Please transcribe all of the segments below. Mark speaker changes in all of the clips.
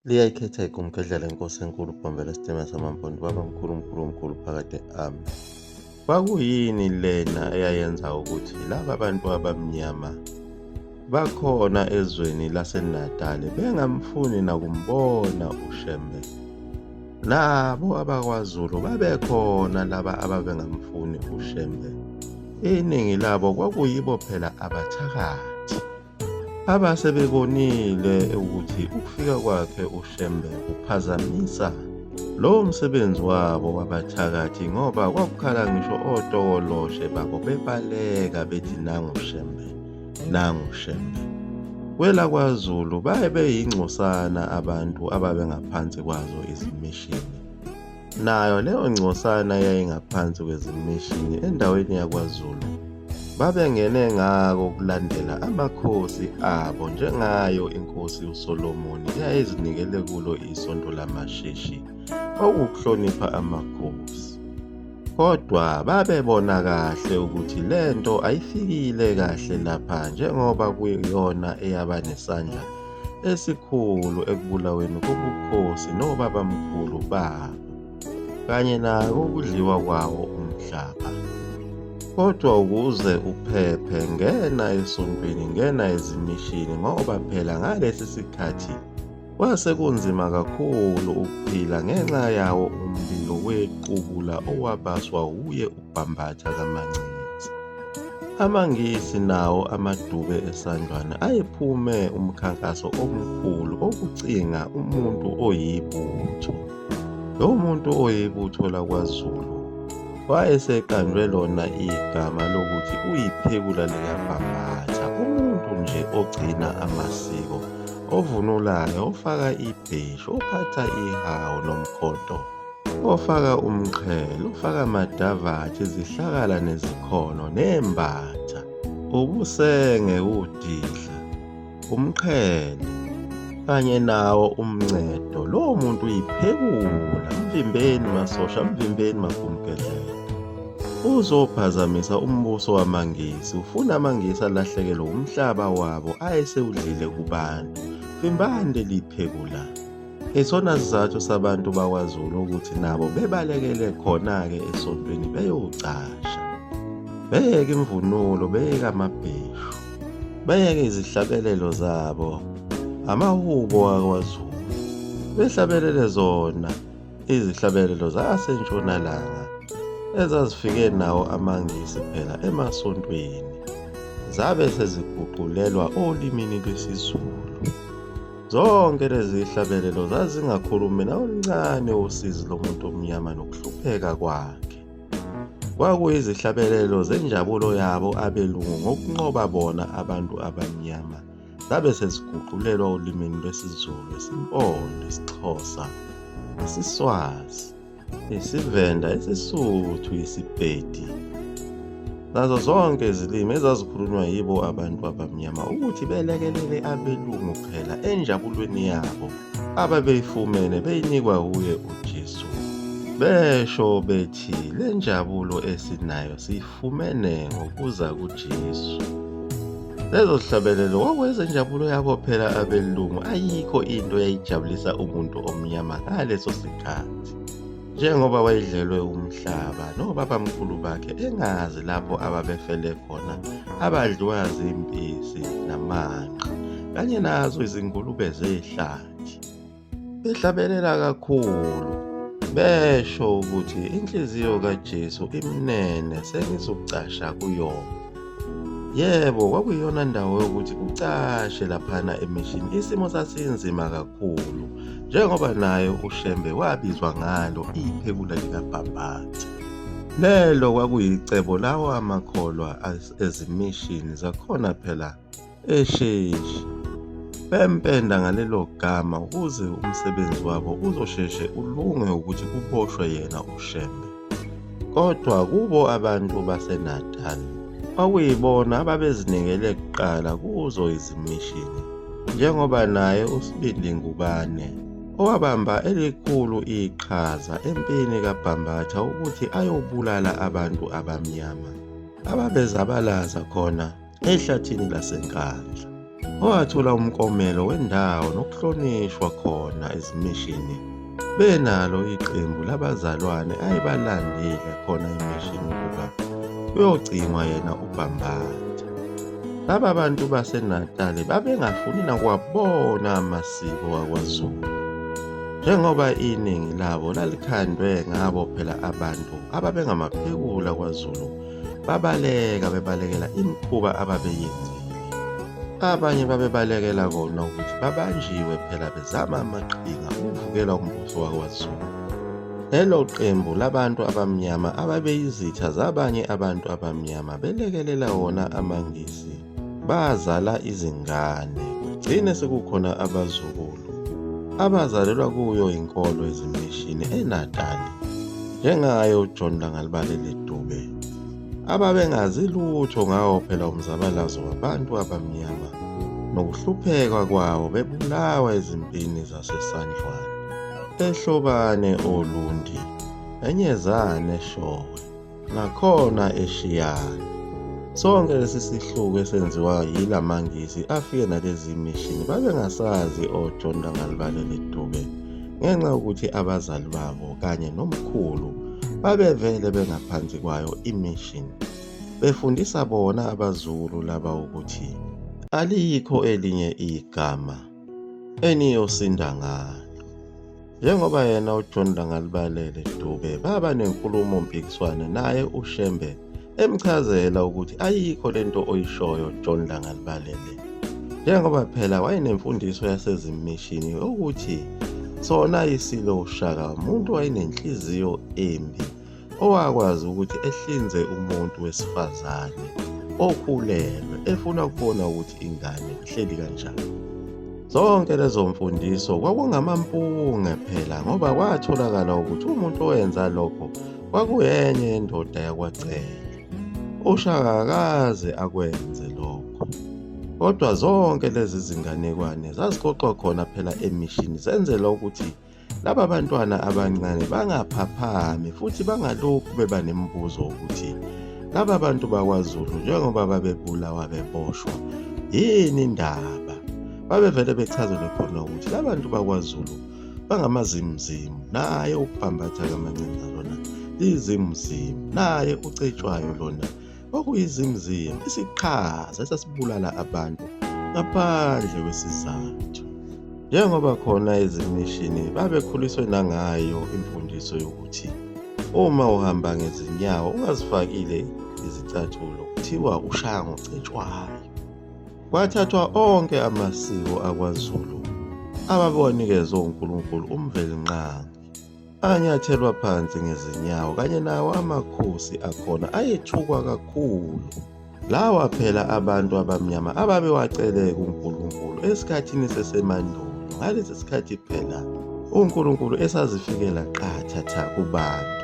Speaker 1: liyayikhetha igumgedlela inkosi enkulu bhombela isitima samampondo baba mkhulu mkhulu mkhulu phakade ami kwakuyini lena eyayenza ukuthi laba bantu abamnyama bakhona ezweni lasenatali bengamfuni nakumbona ushembe nabo abakwazulu babekhona laba ababengamfuni ushembe iningi labo kwakuyibo phela abathakathi Abase bebonile ukuthi ukufika kwakhe uShembe kuphazamisa lowo msebenzi wabo wabathakathi ngoba kwakukhala ngisho otokoloshe babo bebaleka bethi nangu Shembe nangu Shembe kwelakwazulu baye beyingcosana abantu ababengaphansi kwazo izimishini Nayo leyo ngcosana yayingaphansi kwezimishini endaweni yakwaZulu. Babengene ngako kulandela amakhosi abo njengayo inkosi uSolomoni eyayizinikele kulo isonto lamashishi okuhlonipha amakhosi. Kodwa babebona kahle ukuthi lento ayifikile kahle lapha njengoba kuyiyona eyaba nesandla esikhulu ekubulaweni kobukhosi nobabamkhulu babo kanye nawo ukudliwa kwawo umhlaba kodwa ukuze uphephe ngena esontweni ngena ezimishini ngoba phela ngalesi sikhathi kwase kunzima kakhulu ukuphila ngenxa yawo umlilo wequbula owabaswa wuye Bambatha kaMancinza. AmaNgisi nawo amadube eSandlwana ayephume umkhankaso omkhulu okucinga umuntu oyibutho. Lo muntu oyibutho lakwaZulu wayeseqanjwe lona igama lokuthi uyiphekula likaBhambatha, umuntu nje ogcina amasiko, ovunulayo, ofaka ibheshu, ophatha ihawu nomkhondo. ofaka umqhele ufaka amadavatshe izihlakala nezikhono nembatha ubusenge udidla umqhele kanye nawo umncedo lowo muntu uyiphekula mvimbeni masosha mvimbeni magumgedlela uzophazamisa umbuso wamangisi ufuna amangisi alahlekelwe wumhlaba wabo ayesewudlile kubantu vimbani leli phekulana Isona sizathu sabantu bakwaZulu ukuthi nabo bebalekele khona-ke esontweni beyocasha beyeke imvunulo beyeke amabheshu beyeke izihlabelelo zabo amahubo wakwaZulu behlabelele zona izihlabelelo zasentshonalanga ezazifike nawo amaNgisi phela emasontweni zabe seziguqulelwa olimini lwesiZulu. Zonke lezi hlabelelo zazingakhulumi nawoluncane usizi lomuntu omnyama nokuhlupheka kwakhe. Kwakuyizihlabelelo zenjabulo yabo abelungu ngokunqoba bona abantu abamnyama zabe seziguqulelwa olimini lwesiZulu, isiMpondo, isiXhosa nesiSwazi. isivenda isisuthu isipedi nazo zonke izilimi ezazikhulunywa yibo abantu abamnyama ukuthi belekelele abelungu phela enjabulweni yabo ababeyifumene beyinikwa wuye ujesu besho bethi le njabulo esinayo siyifu Fumene ngokuza kuJesu. Lezo hlabelelo kwakwenza injabulo yabo phela abelungu ayikho into eyayijabulisa umuntu omnyama ngaleso sikhathi. Njengoba wayedlelwe umhlaba nobabamkhulu bakhe engazi lapho ababefele khona abadliwa zimpisi namanqa kanye nazo izingulube zehlathi. behlabelela kakhulu besho ukuthi inhliziyo kaJesu imnene sengizokucasha kuyona yebo kwakuyona ndawo yokuthi kucashe laphana emishini isimo sasinzima kakhulu njengoba naye ushembe wabizwa ngalo iphekula likabhabhatha lelo kwakuyicebo lawo amakholwa ezimishini zakhona phela esheshi bempenda ngalelo gama ukuze umsebenzi wabo uzosheshe ulunge ukuthi kuboshwe yena uShembe. Kodwa kubo abantu baseNatal kwakuyibona ababezinikele kuqala kuzo izimishini njengoba naye uSibindi Ngubane owabamba elikhulu iqhaza empini kaBhambatha ukuthi ayobulala abantu abamnyama ababezabalaza khona ehlathini laseNkandla owathola umkomelo wendawo nokuhlonishwa khona ezimishini benalo iqembu labazalwane ayebalandile khona emishini ukuba kuyogcinwa yena ubhambatha laba bantu basenatali babengafuni nakuwabona amasiko wakwazulu njengoba iningi labo lalikhandwe ngabo phela abantu ababengamaphekula kwazulu babaleka bebalekela imikhuba ababeyenzile abanye babebalekela kona ukuthi babanjiwe phela bezama amaqhinga ukuvukela umbuso wakwazulu lelo qembu labantu abamnyama ababeyizitha zabanye abantu abamnyama belekelela wona amangisi bazala izingane kugcine sekukhona abazukulu abazalelwa kuyo inkolo ezimishini enatali njengaye ujohn langalibalele dube ababengazi lutho ngawo phela umzabalazo wabantu abamnyama nokuhlupheka kwawo bebulawa ezimpini zasesandlwane ehlobane olundi enyezane showe nakhona eshiyana. Sonke lesi sihluku esenziwa yila mangisi afike nalezi mishini babengasazi oJohn Rangalibale Leduke ngenxa yokuthi abazali babo kanye nomkhulu babevele bengaphansi kwayo imishini befundisa bona abazulu laba ukuthi aliyikho elinye igama eniyosinda ngalo. Njengoba yena uJohn Langalibalele Dube baba nenkulumo mpikiswano naye uShembe emchazela ukuthi ayikho lento oyishoyo John Langalibalele. Njengoba phela wayenemfundiso yasezimishini yokuthi sona isilo uShaka umuntu wayenenhliziyo embi owakwazi ukuthi ehlinze umuntu wesifazane okhulelwe efuna ukubona ukuthi ingane ihleli kanjani zonke lezo mfundiso kwakungamampunge phela ngoba kwatholakala ukuthi umuntu owenza lokho kwakuyenye yendoda yakwacela ushaka akaze akwenze lokho kodwa zonke lezi zinganekwane zazixoxwa khona phela emishini zenzelwa ukuthi Laba bantwana abancane bangaphaphami futhi bangalokhu beba nemibuzo ukuthi laba bantu bakwaZulu njengoba babebulawa beboshwa yini indaba babevele bechazelwe khona ukuthi labantu bakwaZulu bangamazimzimu naye ukubhambatha kamancinza lona lizimuzimu naye ucetshwayo lona okuyizimzimba isiqhaza esasibulala abantu ngaphandle kwesizathu njengoba khona ezimishini babekhuliswe nangayo imfundiso yokuthi uma uhamba ngezinyawo ungazifakile izicathulo kuthiwa ushaya ngocetshwayo kwathathwa onke amasiko akwaZulu ababewanikezwe uNkulunkulu umvelinqangi anyathelwa phansi ngezinyawo kanye nawo amakhosi akhona ayethukwa kakhulu lawa phela abantu abamnyama ababewaceleke uNkulunkulu esikhathini sesemandulo ngalesi sikhathi phela uNkulunkulu esazifikela qatha tha kubantu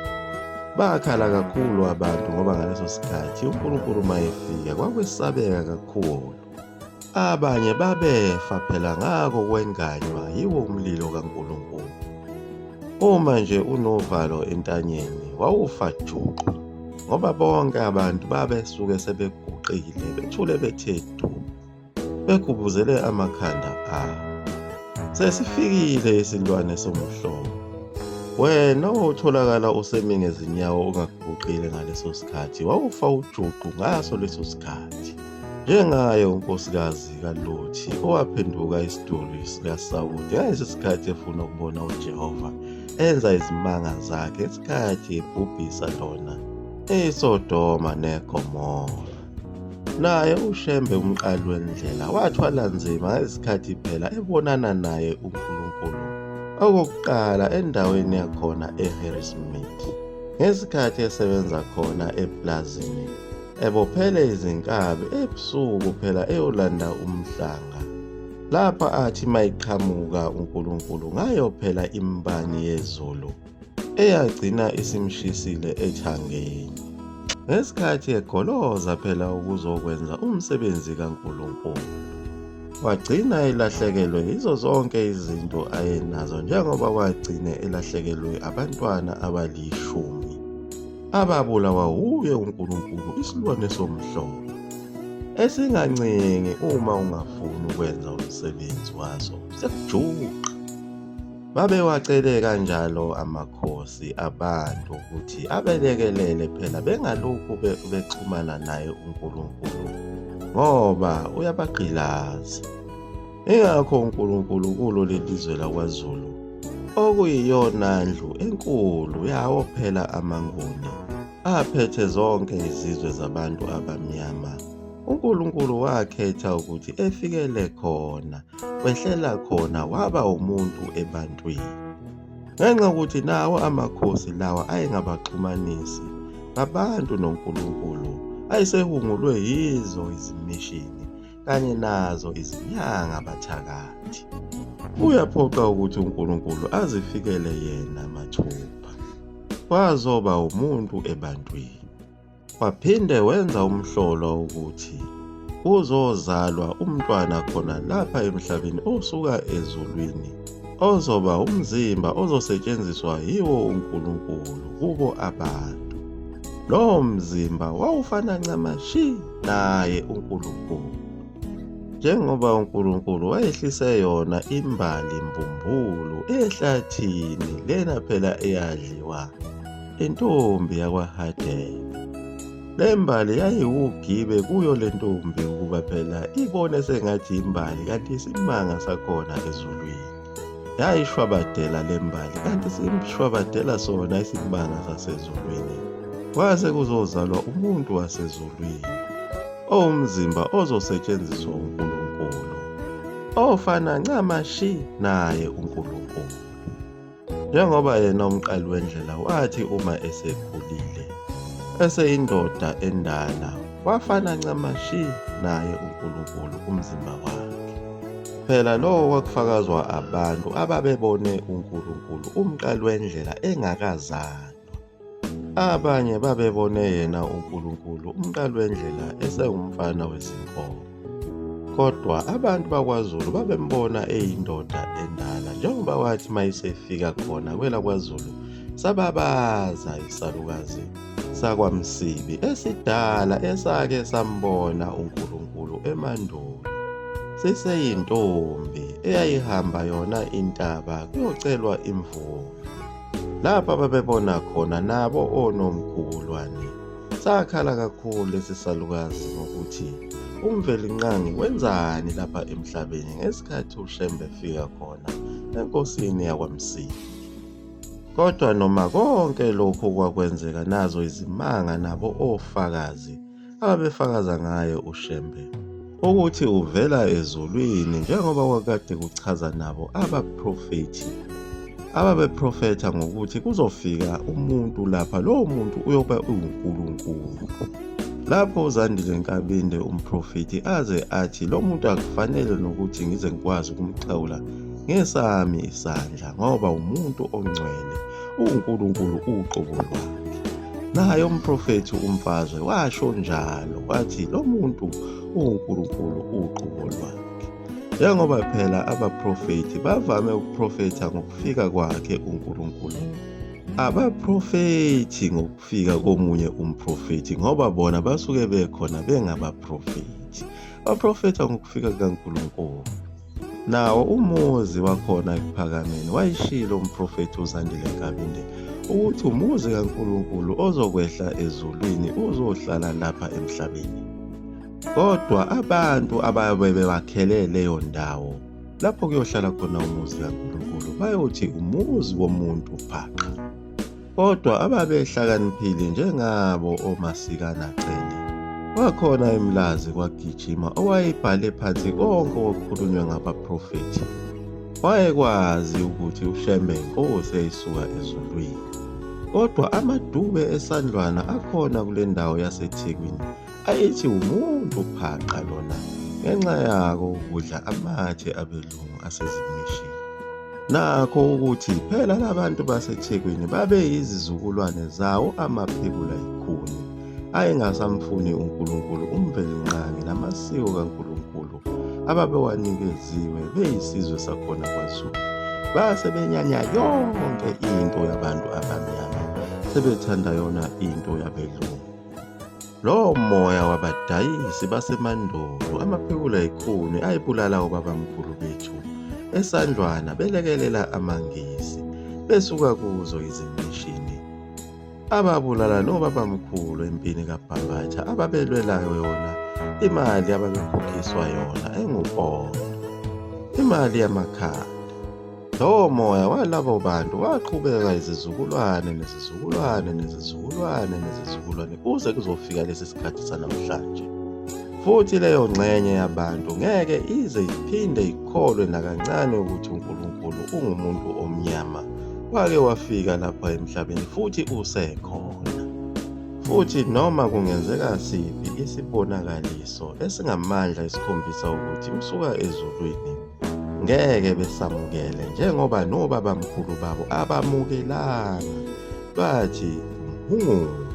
Speaker 1: bakhala kakhulu abantu ngoba ngaleso sikhathi uNkulunkulu mayefika kwakwesabeka kakhulu Abanye babefa phela ngako kwenganywa yiwo umlilo kaNkulunkulu. Uma nje unovalo entanyeni wawufa juqu ngoba bonke abantu babesuke sebeguqile bethule bethe du begubuzele amakhanda abo. Sesifikile isilwane somhlobo. Wena otholakala usemi ngezinyawo ungaguqile ngaleso sikhathi wawufa ujuqu ngaso leso sikhathi. Njengaye unkosikazi kaLothi owaphenduka isiduli sikaSawule ngalesi sikhathi efuna ukubona uJehova enza izimanga zakhe isikhathi ebhubhisa lona eSodoma neGomora. Naye uShembe umqali wendlela wathwala nzima ngesikhathi phela ebonana naye uNkulunkulu okokuqala endaweni yakhona eHarrismith ngesikhathi esebenza khona eplazini ebophele izinkabi ebusuku phela eyolanda umhlanga lapha athi mayiqhamuka uNkulunkulu ngayo phela imbani yezulu eyagcina isimshisile ethangeni ngesikhathi egoloza phela ukuzokwenza umsebenzi kaNkulunkulu wagcina elahlekelwe yizo zonke izinto ayenazo njengoba wagcine elahlekelwe abantwana abalishumi ababulawa wuye uNkulunkulu isilwane somhlolo esingancengi uma ungafuni ukwenza umsebenzi waso sekujuqa babewacele kanjalo amakhosi abantu ukuthi abelekelele phela bengalokhu bexhumana naye uNkulunkulu ngoba uyabagqilaza Ingakho uNkulunkulu kulo lelizwe lakwaZulu okuyiyona ndlu enkulu yawo phela amaNguni aphethe zonke izizwe zabantu abamnyama. UNkulunkulu wakhetha ukuthi efikele khona, wehlela khona waba umuntu ebantwini. Ngenxa yokuthi nawo amakhosi lawa ayengabaxhumanisi ngabantu noNkulunkulu, ayesehungulwe yizo izimishini kanye nazo izinyanga bathakathi. Kuyaphoqa ukuthi uNkulunkulu azifikele yena mathupha. Wazoba umuntu ebantwini. Waphinde wenza umhlolo ukuthi kuzozalwa umntwana khona lapha emhlabeni osuka ezulwini ozoba umzimba ozosetshenziswa yiwo uNkulunkulu kubo abantu. Lowo mzimba wawufana ncamashi naye uNkulunkulu. Njengoba uNkulunkulu wayehlise yona imbali mbumbulu ehlathini lena phela eyadliwa intombi yakwaHadebe. Le mbali yayiwugibe kuyo le ntombi ukuba phela ibone sengathi imbali kanti isimanga sakhona ezulwini. yayishwabadela le mbali kanti simshwabadela sona isimanga sasezulwini kwase kuzozalwa umuntu wasezulwini owumzimba ozosetshenziswa uNkulunkulu ofana ncamashi naye uNkulunkulu njengoba yena umqali wendlela wathi uma esekhulile eseyindoda endala wafana ncamashi naye uNkulunkulu umzimba wakhe Phela lokho kwakufakazwa abantu ababebone uNkulunkulu umqali wendlela engakazalwa. Abanye babebone yena uNkulunkulu umqali wendlela esewumfana wezinkomo. Kodwa abantu bakwaZulu babembona eyindoda endala njengoba wathi mayisefika khona kwelakwaZulu sababaza isalukazi sakwamsibi esidala esake sambona uNkulunkulu emandulo siseyintombi eyayihamba yona intaba kuyocelwa imvula lapha babebona khona nabo onomkhulwane sakhala kakhulu lesi salukazi ngokuthi umvelinqangi wenzani lapha emhlabeni ngesikhathi ushembe efika khona enkosini yakwamsibi Kodwa noma konke lokho kwakwenzeka nazo izimanga nabo ofakazi ababefakaza ngaye uShembe ukuthi uvela ezulwini njengoba kwakade kuchaza nabo abaprofethi ababeprofetha ngokuthi kuzofika umuntu lapha lowo muntu uyoba uwuNkulunkulu lapho uzandile nkabinde umprofethi aze athi lo muntu akufanele nokuthi ngize ngikwazi ukumxhawula ngesami isandla ngoba umuntu ongcwele uNkulunkulu uqobo lwakhe naye umprofethi umfazwe washo njalo wathi lo muntu uNkulunkulu uqobo lwakhe njengoba phela abaprofethi bavame ukuprofetha ngokufika kwakhe uNkulunkulu abaprofethi ngokufika komunye umprofethi ngoba bona basuke bekhona bengabaprofethi baprofetha ngokufika kukaNkulunkulu Nawo umuzi wakhona ekuphakameni wayishilo umprofethi uZandile Nkabinde ukuthi umuzi kaNkulunkulu ozokwehla ezulwini uzohlala lapha emhlabeni. Kodwa abantu ababe bewakhele leyo ndawo lapho kuyohlala khona umuzi kaNkulunkulu bayothi umuzi womuntu phaqa. kodwa ababehlakaniphile njengabo omasikana cele wakhona emlazi kwagijima owayebhale phansi konke okukhulunywa ngabaprofethi wayekwazi ukuthi ushembe inkosi eyisuka ezulwini kodwa amadube esandlwana akhona kule ndawo yasethekwini ayithi umuntu phaqa lona ngenxa yako ukudla amathe abelu amalungu asezimishini. Nakho ukuthi phela labantu baseThekwini babeyizizukulwane zawo amaphekula ikhuni ayengasamfuni uNkulunkulu umvelinqangi namasiko kaNkulunkulu ababewanikeziwe beyisizwe sakhona kwaZulu. Base benyanya yonke into yabantu abamnyama sebethanda yona into yabelungu. Lowo moya wabadayisi basemandulo amaphekula ekhuni ayibulala obabamkhulu bethu esandlwana belekelela amangisi besuka kuzo izimishini ababulala nobabamkhulu empini kabhabatha ababelwelayo yona imali ababekhokhiswa yona engupondo imali yamakhaya Lowo moya walabo bantu waqhubeka izizukulwane nezizukulwane nezizukulwane nezizukulwane kuze kuzofika lesi sikhathi sanamhlanje. Futhi leyo ngxenye yabantu ngeke ize iphinde ikholwe nakancane ukuthi uNkulunkulu ungumuntu omnyama. Wake wafika lapha emhlabeni futhi usekhona. Futhi noma kungenzeka siphi isibonakaliso esingamandla esikhombisa ukuthi usuka ezulwini ngeke besamukele njengoba nobabamkhulu babo abamukelanga bathi mhungulu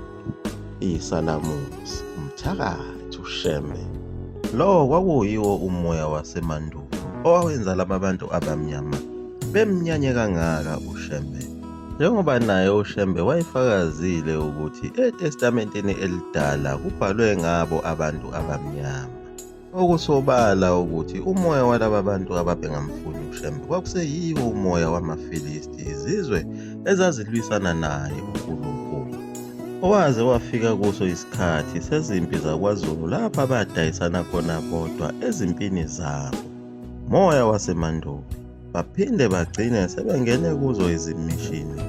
Speaker 1: isalamuzi umthakathi usheme lowo kwakuyiwo umoya wasemandulo owawenza laba bantu abamnyama bemnyanye kangaka ushembe njengoba naye ushembe wayefakazile ukuthi etestamenteni elidala kubhalwe ngabo abantu abamnyama Okusobala ukuthi umoya walaba bantu ababengamfuni uShembe kwakuseyiwo umoya wamaFilisti, izizwe ezazilwisana naye uNkulunkulu. Owaze wafika kuso isikhathi sezimpi zakwaZulu lapho abadayisana khona bodwa ezimpini zabo. Moya wasemandulo. baphinde bagcine sebengene kuzo izimishini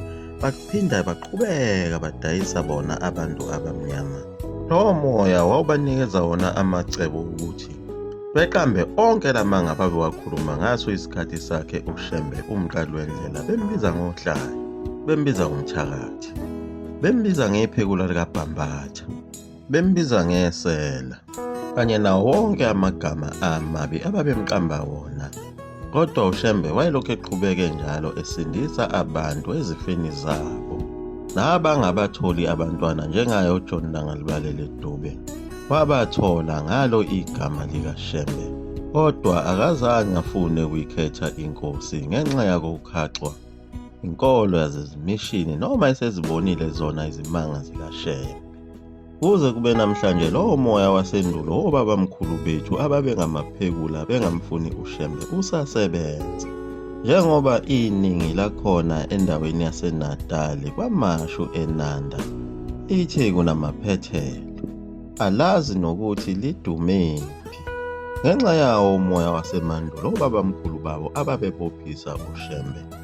Speaker 1: baphinda baqhubeka badayisa bona abantu abamnyama lowo moya wawubanikeza wona amacebo ukuthi beqambe onke la manga babewakhuluma ngaso isikhathi sakhe ushembe umqali wendlela bembiza ngohlayo bembiza ngomthakathi bembiza ngephekula likabhambatha bembiza ngesela kanye nawo wonke amagama amabi ababemqamba wona kodwa ushembe wayelokhu eqhubeke njalo esindisa abantu ezifeni zabo nabangabatholi abantwana njengaye ujohn langalibalele dube wabathola ngalo igama likashembe kodwa akazange afune ukuyikhetha inkosi ngenxa yakokukhaxwa inkolo yazezimishini noma esezibonile zona izimanga zikashembe Kuze kube namhlanje lowo moya wasendulo wobabamkhulu bethu ababengamaphekula bengamfuni uShembe usasebenza. Njengoba iningi lakhona endaweni yaseNatali kwamashu eNanda lithi kunamaphethelo, alazi nokuthi lidumephi. Ngenxa yawo umoya wasemandulo obabamkhulu babo ababebophisa uShembe